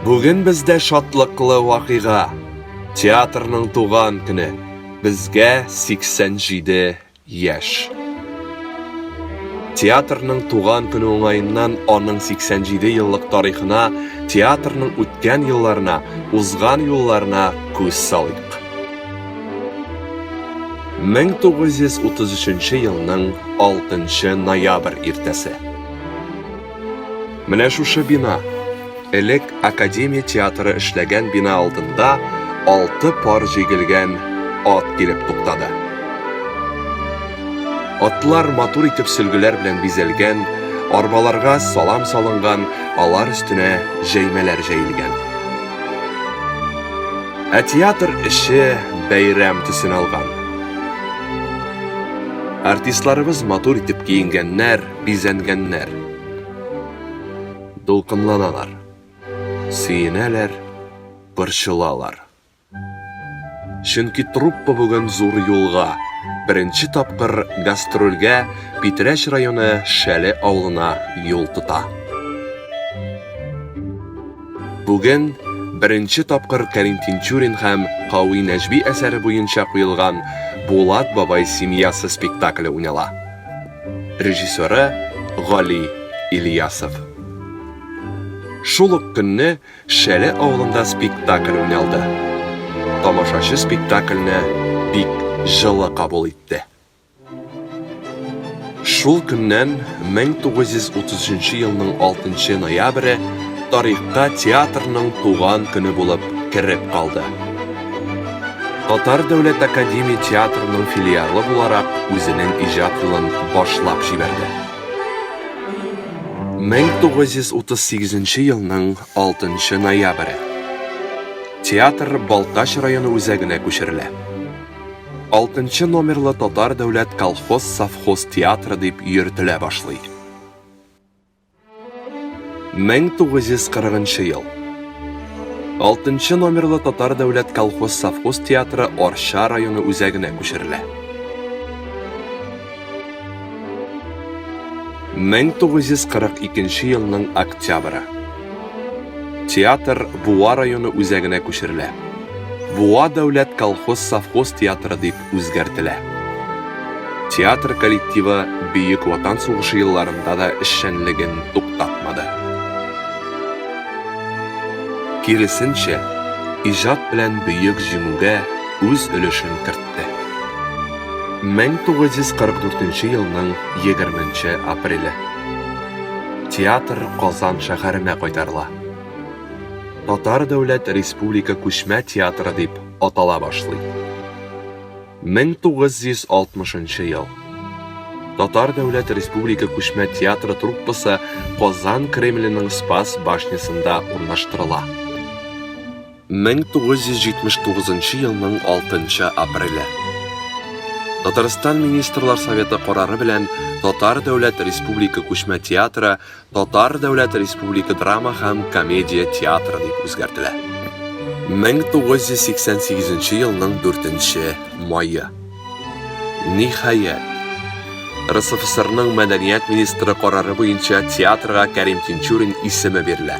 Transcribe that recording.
Бүген бездә шатлыклы вакыйга. Театрның туган көне. Безгә 87 яшь. Театрның туган көне уңаеннан аның 87 еллык тарихына, театрның үткән елларына, узган юлларына күз салыйк. 1933 елның 6 ноябрь иртәсе. Менә шушы бина, элек Академия театры эшләгән бина алдында алты пар җигелгән ат килеп туктады. Атлар матур итеп сөлгеләр белән бизәлгән, арбаларга салам салынган, алар өстенә җәймәләр җәелгән. Ә театр эше бәйрәм төсен алган. Артистларыбыз матур итеп киенгәннәр, бизәнгәннәр. Дулкынланалар. Сөенәләр, борчылалар. Чөнки труппа бүген зур юлга, беренче тапкыр гастрольгә Питрәч районы Шәле авылына юл тота. Бүген беренче тапкыр Кәрим Тинчурин һәм Кави Нәҗби әсәре буенча куелган Булат бабай семьясы спектакле уйнала. Режиссеры, Гали Ильясов. Шул ук көнне Шәле авылында спектакль уйналды. Тамашачы спектакльне бик җылы кабул итте. Шул көннән, 1933 елның 6 ноябре, тарихка театрның туган көне булып кереп калды. Татар дәүләт академия театрының филиалы буларак үзенең иҗат юлын башлап җибәрде. 1938 елның 6 ноябре. Театр Балтач районы үзәгенә күчерелә. Алтынчы номерлы татар дәүләт колхоз-совхоз театры дип йөртелә башлый. 1940 ел. Алтынчы номерлы татар дәүләт колхоз-совхоз театры Орча районы үзәгенә күчерелә. 1942 елның октябры. Театр Буа районы үзәгенә күчерелә. Буа дәүләт колхоз-совхоз театры дип үзгәртелә. Театр коллективы Бөек Ватан сугышы елларында да эшчәнлеген туктатмады. Киресенчә, иҗат белән Бөек Җиңүгә үз өлешен кертте. 1944 елның 20 апреле. Театр Казан шәһәренә кайтарыла. Татар дәүләт республика күчмә театры дип атала башлый. 1960 ел. Татар дәүләт республика күчмә театры труппасы Казан Кремленең Спас башнясында урнаштырыла. 1979 елның 6 апреле Татарстан министрлар советы карары белән Татар дәүләт республика күчмә театры Татар дәүләт республика драма һәм комедия театры дип үзгәртелә. 1988 елның 4 мае. Ниһаять, РСФСРның мәдәният министры карары буенча театрга Кәрим Тинчурин исеме бирелә.